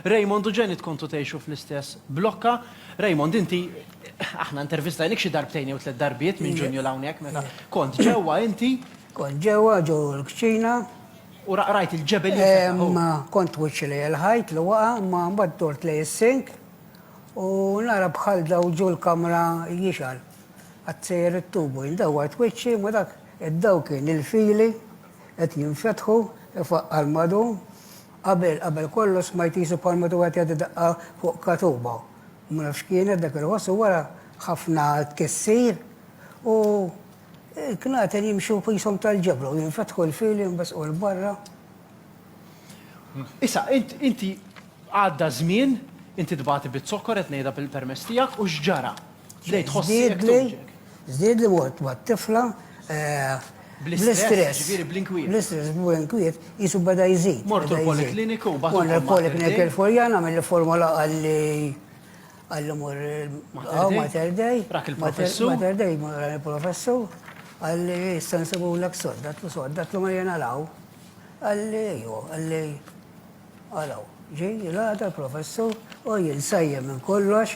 Raymond u Janet kontu tgħixu fl-istess blokka. Raymond, inti aħna intervistajnik xi darbtejn jew tliet darbiet minn Ġunju 'l hawnhekk meta kont ġewwa inti. Kont ġewwa ġo l-kċina. U rajt il-ġebel jinfetaħ. Imma kont twiċċi lejn il-ħajt li waqa' imma mbagħad dort lejn is-sink u nara bħal dawl ġo l-kamra jixgħal. Qatt sejjer it-tubu. Jien dawwart wiċċi imma dak id-dawl kien il-fili qed jinfetħu, ifaqqar madum. Qabel, qabel kollox smajt qisu bħal meta wieħed jgħaddi daqqa fuq katuba. Ma nafx x'kienet dak il-ħoss u wara ħafna tkissir u l-knaten jimxu qishom tal-ġebla u jinfetħu l-fili jinbesqu 'l barra. Issa, int, inti għadda żmien, inti tbati biż-zokkor qed ngħidha bil-permess tiegħek u x'ġara? Żdiedli, żdiedli mort ma' tifla bl-istress. Ġifieri bl-inkwiet. Bl-istress, bl-inkwiet, qisu beda jżid. Mort il-polikliniku u bagħtulkom. Mort il-polikliniku il-Furjana għamilli formola qalli qalli mur għaw Mater Dei. Rak il-professur. Mater Dei, rak il-professur. Qalli issa nsibulek sodda, għatlu sodda, għatlu ma jiena law. Qalli ejju, qalli għalaw. Ġej il-għada l-professur u jien sajjem minn kollox.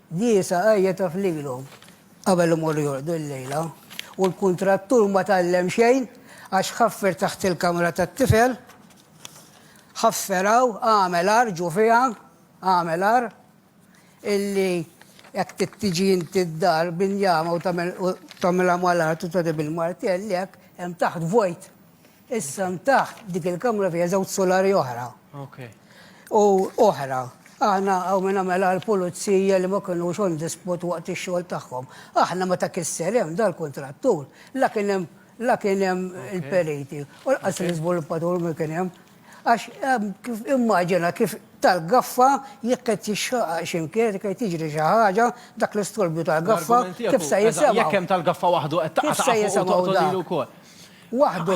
Ghiesa għajjet għaf lilhom qabel imorru jorqdu l-lejla u l-kuntrattur ma tgħallem xejn għax ħaffer taħt il-kamra tat-tifel, ħaffer hawn, għamel għar, ġu fiha, għamel għar, illi jekk trid tiġi inti d-dar b'injama u tagħmilha mal-art u tgħaddi bil-martell hekk, hemm taħt vojt. Issa hemm taħt dik il-kamra fiha żewġ sulari oħra. U oħra. Aħna hawn min għamel għall-pulizija li ma kinux on the spot waqt ix-xogħol tagħhom. Aħna meta kisser hemm dal-kuntrattur la kien hemm la kien hemm il-periti u lanqas l-iżviluppatur ma kien hemm. Għax immaġina kif tal-gaffa jekk qed jixxaqaq xi mkien, jekk qed jiġri xi ħaġa, dak l-istorbju tal-gaffa kif se jisimgħu. Jekk hemm tal-gaffa waħdu qed taqgħu fuq u toqgħod lil ukoll. Waħdu.